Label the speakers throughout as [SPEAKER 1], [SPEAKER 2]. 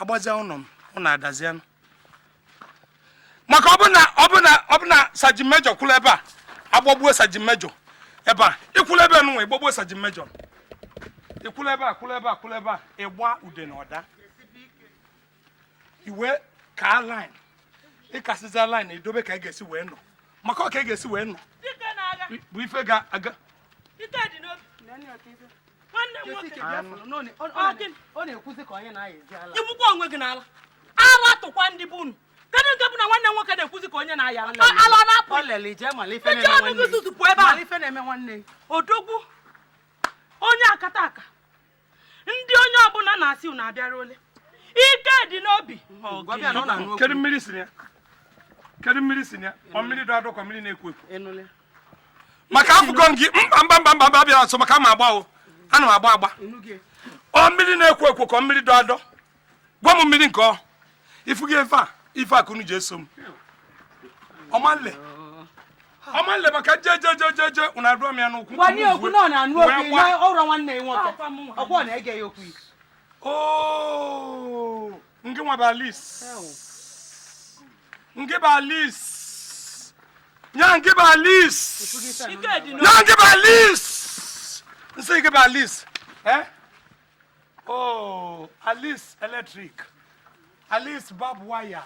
[SPEAKER 1] agbazia ụnọ m ụnọ adazianụ maka ọbụna ọbụna ọbụna saji mejọ kwụrụ ebe a agbagbuo saji mejọ ebe a ịkwụrụ ebe nụnwa ị gbagbuo saji mejọ ịkwụrụ ebe a kwụrụ ebe a kwụrụ ebe a ịgba ude na ọda ị wee kaa line ị kasịzịa line edobe ka ị ga-esi wee nọ maka ọ ka ị ga-esi wee nọ bụ ife ga-aga ike dị n'obi nwanne m nwoke ọ na-ekwuzi ka onye na-aya ezi ala igbukwa onwe gị n'ala ala tụkwa ndị bụ unu kedu nke bụ na nwanne m nwoke na-ekwuzi ka onye na-aya ala ala na-apụ ije ọnụgụ zuzupụ ebe a odogwu onye akataka ndị onye ọbụla na-asị unu abịara ole ike dị n'obi kedu mmiri si ya kedu mmiri si ya ọ mmiri dọ adọ ka mmiri na-ekwo ekwo maka afụgo m gị mba mba mba mba mba bịara nso maka ma agbawo ana m agba agba ọ mmiri na-ekwo ekwo ka mmiri dọ adọ gwa m mmiri nke ọ ifugo ife a ife a ka unu ji eso m ọmanle ọmanle maka je je je je je unu adụọ m ya n'ụkwụ gwanye okwu na ọ na-anụ okwu na ọrụ nwanne ya nwoke ọkwa ọ na-ege ya okwu oo ngị nwa bụ Alice ngị bụ Alice nya ngị bụ Alice nya ngị bụ Alice m sị ngị bụ Alice eh Oh, Alice electric Alice barbed wire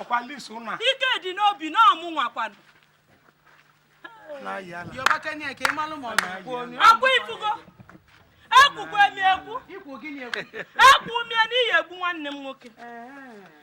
[SPEAKER 1] ọkwa Alice ụna ike dị n'obi na ọ mụnwa kwanụ na-ayị ala Yoruba Kenya ka ị malụ ma ọ ga-ekwu onye. ọkwa ifugo ekwukwe m ekwu Ikwu gịnị ekwu? ekwu mie n'ihi egbu nwanne m nwoke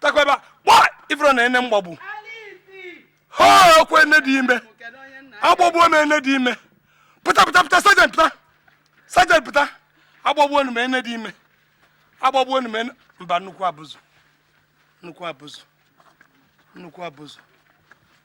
[SPEAKER 1] takwaba kpọ ifurọ na ene m gbagbu o ọkwa ene dị ime agbagbuo m ene dị ime pụta pụta pụta sergeant pụta sergeant pụta agbagbuo m ene dị ime agbagbuo m ene mba nnukwu abụzụ nnukwu abụzụ nnukwu abụzụ